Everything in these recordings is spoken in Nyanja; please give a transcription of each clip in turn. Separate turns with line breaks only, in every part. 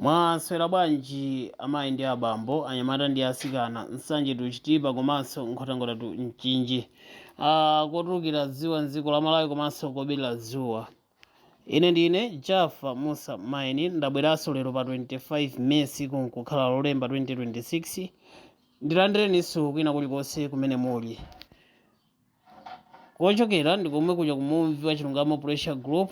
mwaswera bwanji amayi ndi abambo anyamata ndi asikana nsanje to chitipa komanso nkhotakota to mchinji ah, kotulukira dzuwa mdziko la malawi komanso kolowera dzuwa ine ndine jafa musa maini ndabweranso lero pa 25 may tsiku nkukhala lolemba 2026 ndilandireninso kwina kulikonse kumene muli Kochokera ndi komwe kuja ku Mumvi wa Chilungamo Pressure Group,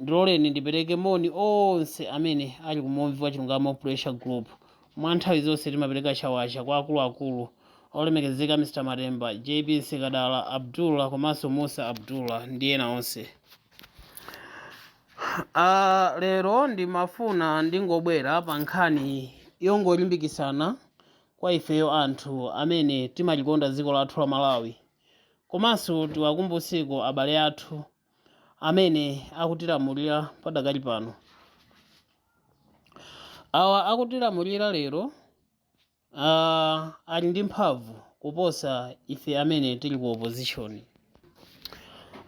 ndiloleni ndipereke moni onse amene ali ku Mumvi wa Chilungamo Pressure Group. Mwa nthawi zonse timapereka chawacha kwa akuluakulu olemekezeka Mr. Matemba, JB Nsikadala, Abdullah komanso Musa Abdullah ndi ena onse. Ah, lero ndimafuna ndingobwera pa nkhani yongolimbikitsana Kwa ifeyo anthu amene timalikonda dziko lathu la Malawi komanso tiwakumbutseko abale athu amene akutilamulira padakali pano. Awa akutilamulira lero ah, ali ndi mphamvu kuposa ife amene tili ku opposition.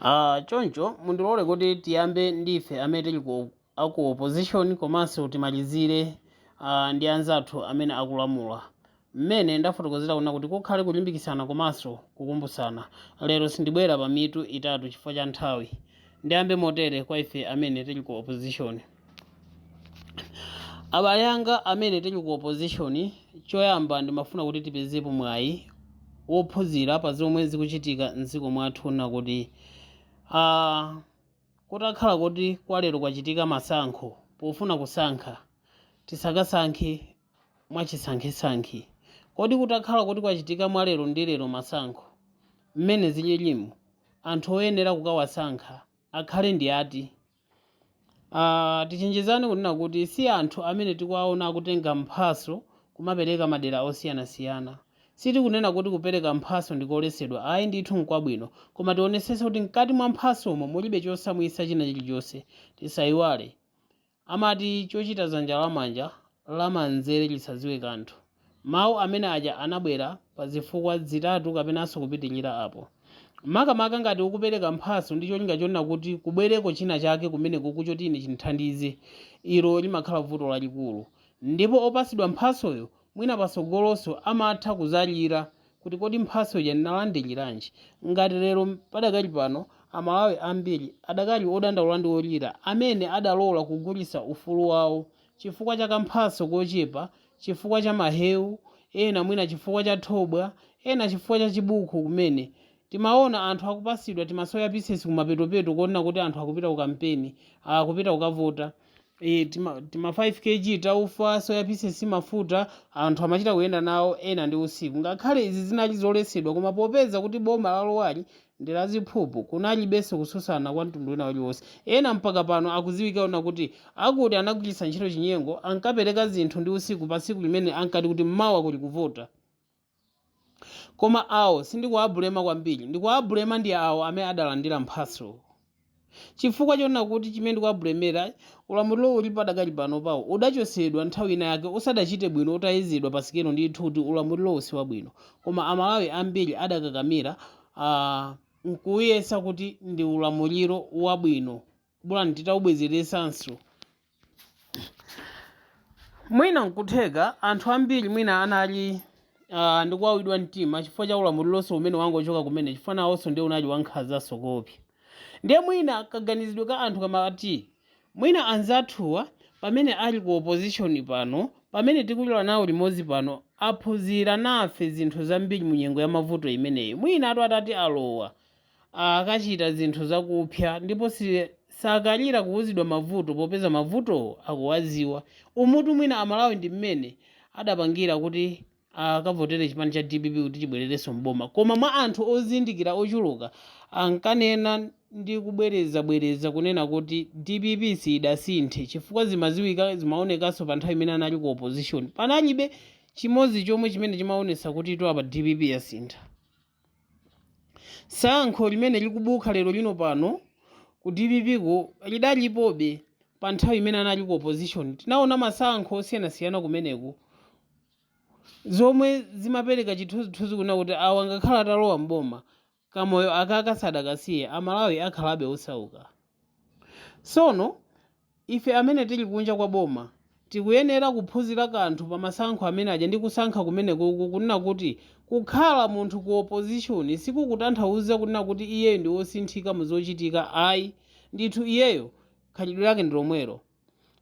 Ah, choncho mundilole kuti tiyambe ndi ife amene tili ku a ku opposition komanso timalizire ah, ndi anzathu amene akulamula mmene ndafotokozera kunena kuti kukhale kulimbikitsana komanso kukumbutsana lero sindibwera pa mitu itatu chifukwa cha nthawi ndiyambe motere kwa ife amene tili ku opposition abale anga amene tili ku opposition choyamba ndimafuna kuti tipezepo mwayi wophunzira pa zomwe zikuchitika mdziko mwathu na kuti ah, Kutakhala kuti kwa lero kwachitika masankho, pofuna kusankha, tisakasankhe mwachisankhesankhe. Kodi kutakhala kuti kwachitika mwa lero ndi lero masankho, mmene zililimu, anthu oyenera kukawasankha akhale ndi ati? Aaah tichenjezane kunena kuti si anthu amene tikuwaona akutenga mphatso kumapereka madera osiyanasiyana. Sitikunena kuti kupereka mphatso ndi koletsedwa, ayi ndithu n'kwabwino, koma tionetsetse kuti mkati mwa mphatsomo mulibe chosamwitsa china chilichonse. Tisaiwale, amati chochita dzanja lamanja lamanzere lisadziwe kanthu. Mawu amene aja anabwera pa zifukwa zitatu kapenanso kupitirira apo. Makamaka ngati ukupereka mphatso ndi cholinga chonena kuti kubwereko china chake kumenekuku choti ine chindithandize, ilo limakhala vuto lalikulu. Ndipo opatsidwa mphatsoyo Mwina patsogolonso amatha kudzalira kuti kodi mphatso ija ndinalandiriranji. Ngati lero padakali pano Amalawi ambiri adakali odandaula ndi olira amene adalola kugulitsa ufulu wawo chifukwa cha kamphatso kochepa, chifukwa cha maheu, ena mwina chifukwa cha thobwa, ena chifukwa cha chibuku kumene. Timaona anthu akupatsidwa timasoya pieces kumapetopeto konena kuti anthu akupita ku kampeni, akupita kukavota. e, tima, tima 5 kg taufa soya pieces mafuta anthu amachita kuyenda nawo ena ndi usiku ngakhale izi zinali zoletsedwa koma popeza kuti boma lalowali ndi la ziphuphu kunalibenso kususana kwa mtundu wina uliwonse ena mpaka pano akuziwika kunena kuti akuti anagwiritsa ntchito chinyengo ankapereka zinthu ndi usiku pa tsiku limene ankati kuti mmawa kuli kuvota Koma awo sindikuwabulema kwambiri, ndikuwabulema ndi awo amene adalandira mphatso. Chifukwa chonena kuti chimene ndikuwabulemera, ulamuliro uli padakali panopawu udachotsedwa nthawi ina yake usadachite bwino utayezedwa pa sikelo ndithu kuti ulamulirowu siwabwino, koma Amalawi ambiri adakakamira, aah, nkuwuyesa kuti ndi ulamuliro wabwino. bolani titaubwezeretsanso mwina nkutheka anthu ambiri mwina anali uh, ndikuwawidwa mtima chifukwa cha ulamulilonso umene wangochoka kumene chifukwa nawonso ndiye unali wankhazanso koopsa ndiye mwina kaganizidwe ka anthu kamati mwina anzathuwa pamene ali ku opposition pano pamene tikulira nawo limodzi pano aphunzira nafe zinthu zambiri mu nyengo ya mavuto imeneyi mwina atu atati alowa akachita zinthu zakupsa ndipo sakalira kuuzidwa mavuto popeza mavutowo akuwaziwa. Umutu mwina amalawi ndi mmene adapangira kuti akavotere chipani cha dpp kuti chibwererenso m'boma koma mwa anthu ozindikira ochuluka ankanena ndi kubwerezabwereza kunena kuti dpp siyidasinthe chifukwa zimaziwika zimaonekanso pa nthawi imene anali ku opposition panalibe chimodzi chomwe chimene chimaonetsa kutitu apa dpp yasintha. Tsankho limene likubuka lerolino pano ku dpp ko lidalipobe pa nthawi imene anali ku opposition. Tinaona masankho osiyanasiyana kumeneko zomwe zimapereka chithunzithunzi kunena kuti awa ngakhale atalowa m'boma, kamoyo akaka sadakasiye, Amalawi akhalabe osauka. Tsono ife amene tili kunja kwa boma tikuyenera kuphunzira kanthu pa masankho amene aja ndi kusankha kumenekuku kunena kuti kukhala munthu ku opposition sikukutanthauza kunena kuti iyeyo ndi wosinthika mu zochitika ayi ndithu iyeyo khalidwe lake ndi lomwelo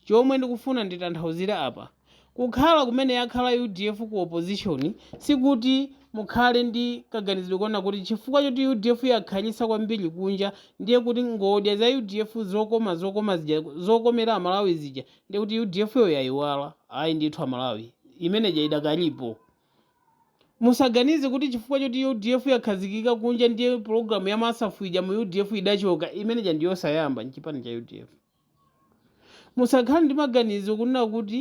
Chomwe ndikufuna nditanthauzire apa, kukhala kumene yakhala udf ku opposition sikuti mukhale ndi kaganizidwe konena kuti chifukwa choti udf yakhalitsa kwambiri kunja ndiye kuti ngodya za udf zokoma zokoma zija zokomera amalawi zija ndiye kuti udf yo yayiwala ayi ndithu amalawi imeneja idakalipo musaganize kuti chifukwa choti udf yakhazikika kunja ndiye pulogalamu ya masafu ija mu udf idachoka imeneja ndiyosayamba mchipani cha udf Musakhale ndi maganizo kunena kuti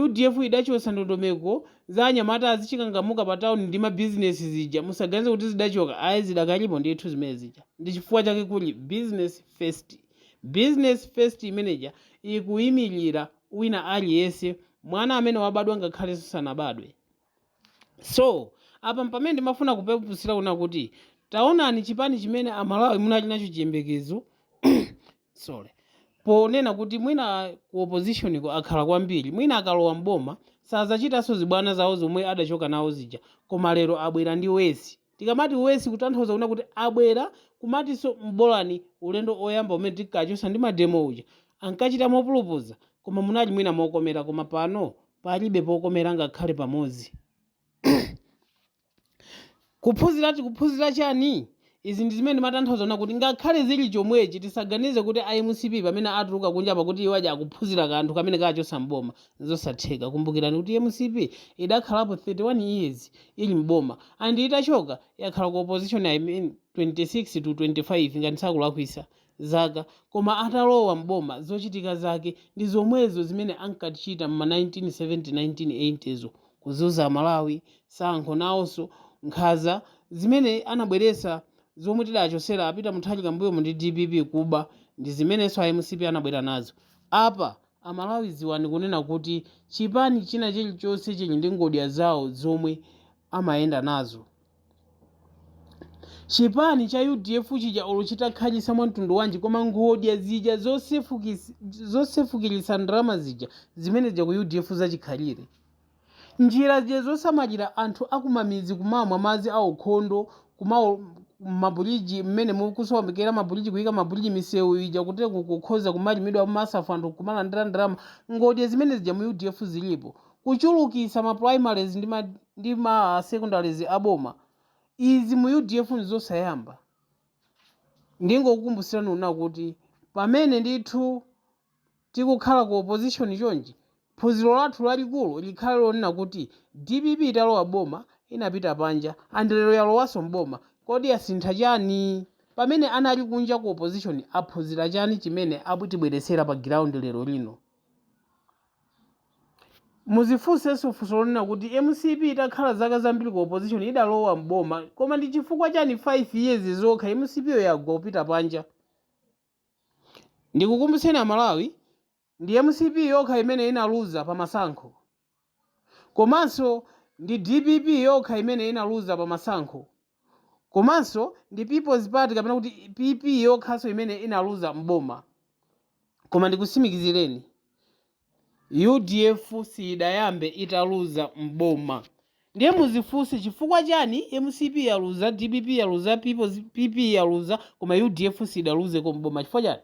udf idachotsa ndondomeko za anyamata azichikangamuka pa town ndi ma business zija musaganize kuti zidachoka ayi zidakalipo ndithu zimene zija ndi chifukwa chake kuli business first business first imeneja ikuyimilira wina aliyense mwana amene wabadwa ngakhalenso sanabadwe. So, apa pamene ndimafuna kupepusira kuna kuti taonani chipani chimene amalawi munali nacho chiyembekezo sorry ponena kuti mwina ku opposition ko akhala kwambiri mwina akalowa mboma sazachitanso zibwana zawo zomwe adachoka nawo zija koma lero abwera ndi worse Tikamati worse kutanthauza kuna kuti abwera kumatinso bolani ulendo oyamba umene tinkachosa ndi mademo uja ankachita mopulupudza koma munali mwina mokomera koma pano palibe pokomera ngakhale pamodzi. Kuphuzira tikuphuzira chani? Izi ndizimene ndimatanthauza kuna kuti ngakhale zili chomwechi tisaganize kuti a mcp pamene atuluka kunja apa kuti iwo aja akuphuzira kanthu kamene kachosa m'boma. Zosatheka. Kumbukirani kuti mcp idakhalapo 31 years ili m'boma and itachoka yakhala ku opposition I mean 26 to 25 ngati sakulakwisa zaka koma atalowa m'boma zochitika zake ndi zomwezo zimene ankatichita mma 1970 1980 zo. Kuzuza amalawi, sankho nawoso, nkhaza zimene anabweresa zomwe tidachosera a Peter Mutharika m'mbuyomu ndi dpp, kuba ndizimeneso a mcp anabwera nazo. Apa Amalawi dziwani kunena kuti chipani china chilichonse chili ndi ngodya zawo zomwe amayenda nazo. Chipani cha udf chija olo chitakhalitsa mwamtundu wanji koma ngodya zija zosefukis, zosefukilitsa ndalama zija zimene zija ku udf zachikhalire. Njira zija zosamalira anthu akumamidzi kumamwa madzi aukhondo kuma mabuliji mmene mukusoomekera mabuliji kuyika mabuliji misewu ija kuti kukhoza kumalimidwa mmasafu anthu nkumalandira ndalama ngodya zimene zija mu udf zilipo kuchulukitsa ma primaries ndi ma ndi ma secondaries a boma izi mu udf nzosayamba ndingokukumbusirani una kuti pamene ndithu Tikukhala ku opposition chonchi, phunziro lathu lalikulu likhale lonena kuti dpp italowa boma inapita panja and lero yalowaso m'boma kodi yasintha chani? Pamene anali kunja ku opposition aphunzira chani chimene akutibweretsera pa ground lero lino? Muzifunseso funso lonena kuti mcp itakhala zaka zambiri ku opposition idalowa m'boma koma ndi chifukwa chani 5 years zokha mcp yo yagwa kupita panja? Ndikukumbutseni amalawi ndi mcp yokha imene inaluza pa masankho komanso ndi dpp yokha imene inaluza pa masankho komanso ndi peoples party kapena kuti pp yokhanso imene inaluza m'boma koma ndikusimikizireni Udf siyidayambe italuza m'boma ndiye muzifunse chifukwa chani mcp yaluza, dpp yaluza, PP yaluza koma udf siyidaluzeko m'boma chifukwa chani?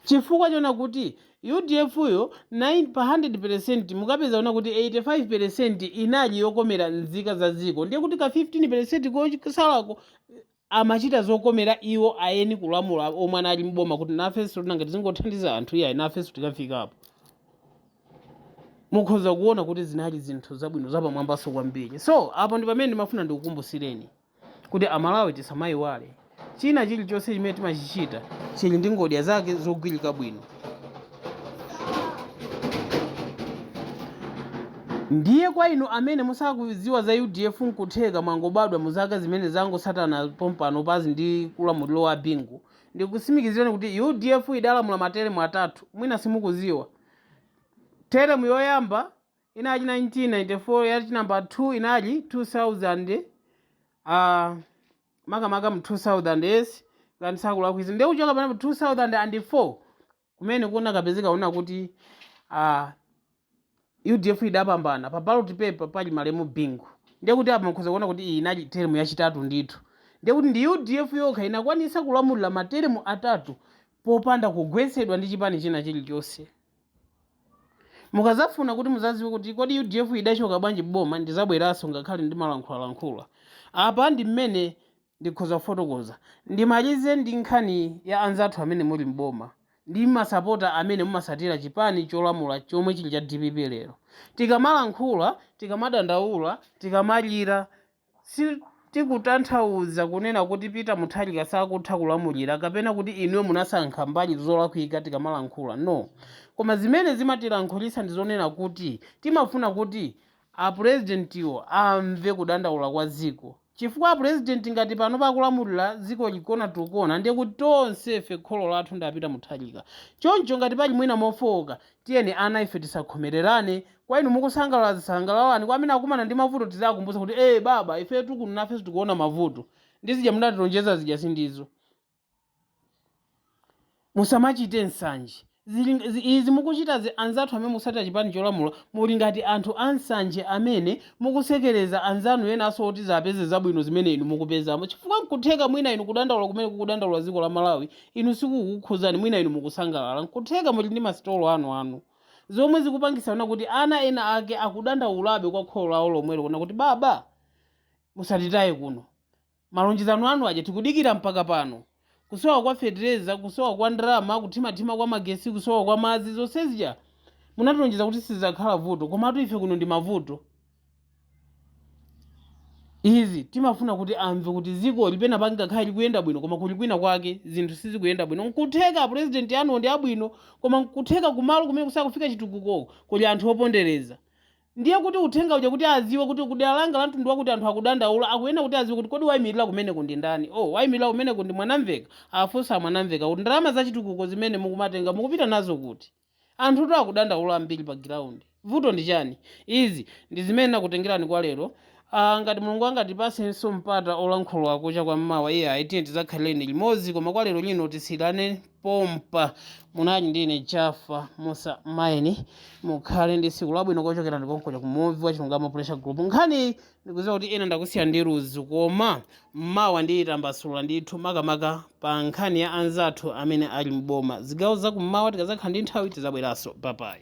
Chifukwa chonena kuti udf yo 9 pa 100 pelesenti mukapeza kunena kuti 85 pelesenti inali yokomera nzika za dziko ndiye kuti ka 15 pelesenti kosalako amachita zokomera iwo eni kulamula omwe anali m'boma kuti nafenso nanga tizingothandiza anthu iyayi nafenso tikafikapo mukhoza kuona kuti zinali zinthu zabwino zapamwambanso kwambiri so apo ndi pamene ndimafuna ndikukumbusireni kuti amalawi tisamayiwale china chilichonse chimene timachichita chili ndi ngodya zake zogwirika bwino Ndiye kwa inu amene musakuziwa za udf nkutheka mwangobadwa mu zaka zimene zangotsatana pompanopazi ndi ulamuliro wa Bingu, ndikusimikizireni kuti udf idalamula materemu atatu, mwina simukuziwa. Teremu yoyamba inali 1994, ya chinamba 2 inali 2000, aah, makamaka mu 2000 yes ngati sindikulakwitsa ndiye kuchoka pano mu 2004 kumene kunakapezeka kunena kuti ah, udf idapambana pa ballot paper pali malemu bingu ndiye kuti apa mukhoza kuona kuti iyi inali teremu yachitatu ndithu ndiye kuti ndi udf yokha inakwanitsa kulamulira materemu atatu popanda kugwetsedwa ndi chipani china chilichonse mukazafuna kuti muzaziwe kuti kodi udf idachoka bwanji mboma ndizabweranso ngakhale ndimalankhulalankhula apa ndi mmene ndikhoza kufotokoza ndimalize ndi nkhani ya anzathu amene muli mboma ndi masapota amene mumasatira chipani cholamula chomwe chili cha dpp lero tikamalankhula tikamadandaula tikamalira Sitikutanthauza kunena kuti Peter Mutharika sakutha kulamulira kapena kuti inuyo munasankha mbali zolakwika tikamalankhula, no. Koma zimene zimatilankhulitsa ndi zonena kuti timafuna kuti apulezidentiwo amve kudandaula kwa dziko. Chifukwa apulezidenti ngati panopa akulamulira dzikoli kona to kona ndiye kuti tonsefe kholo lathu ndi a Peter Mutharika. Choncho ngati pali mwina mofooka, Tiyeni ana ife tisakhomererane Kwa inu mukusangalala zisangalalani Kwa amene akumana ndi mavuto tiziwakumbutsa kuti ee baba ifetu kuno nafenso tikuona mavuto Ndi zija munatilonjeza zija sindizo Musamachite nsanje Zili, zi, izi mukuchitazi Anzathu amene mukusatira chipani cholamula Muli ngati anthu a nsanje amene Mukusekereza anzanu enanso oti azapeze zabwino zimene inu mukupezamo Chifukwa nkutheka mwina inu kudandaula kumene kukudandaula dziko la Malawi inu sikukukhuzani mwina inu mukusangalala nkutheka muli ndi masitolo anuanu zomwe zikupangisa ona kuti ana ena ake akudandaulabe kwa kholo lawo lomwelo kuna kuti baba musatitaye kuno malonjezano anu aja tikudikira mpaka pano kusowa kwa fetereza kusowa kwa ndalama kuthimathima kwa magesi kusowa kwa madzi zonse zija munatilonjeza kuti sizakhala vuto komatu ife kuno ndi mavuto izi timafuna kuti amve kuti dzikoli pena pake ngakhale likuyenda bwino koma kuli kwina kwake zinthu sizikuyenda bwino nkutheka apurezidenti anuwo ndi abwino koma nkutheka kumalo kumene kusakufika chitukuko kuli anthu opondereza ndiye kuti uthenga uja kuti aziwe kuti kudera langa la mtundu wakuti anthu akudandaula akuyenera kuti aziwe kuti kodi wayimirira kumeneko ndi ndani o wayimirira kumeneko ndi Mwanamveka afunsa Mwanamveka kuti ndalama zachitukuko zimene mukumatenga mukupita nazo kuti Anthutu akudandaula ambiri pa ground. Vuto ndi chani? Izi ndi zimene nakutengelani kwa lero. Aaa ngati Mulungu angatipasenso mpata olankhula kucha kwa mmawa iyayi tiyeni tizakhalileni limodzi koma kwa lero lino tisiyilane pompa. Munali ndi ine Jaffa Mussa Maini. Mukhale ndi tsiku labwino kochokera ndi konkuno ku Muvi wa Chilungamo Pressure Group. Nkhaniyi ndikuziwa kuti ena ndakusiya ndi ludzu koma mmawa ndiyitambasula ndithu makamaka pa nkhani ya anzathu amene ali m'boma zigawo zakummawa tikazakhala ndi nthawi tizabweranso bye bye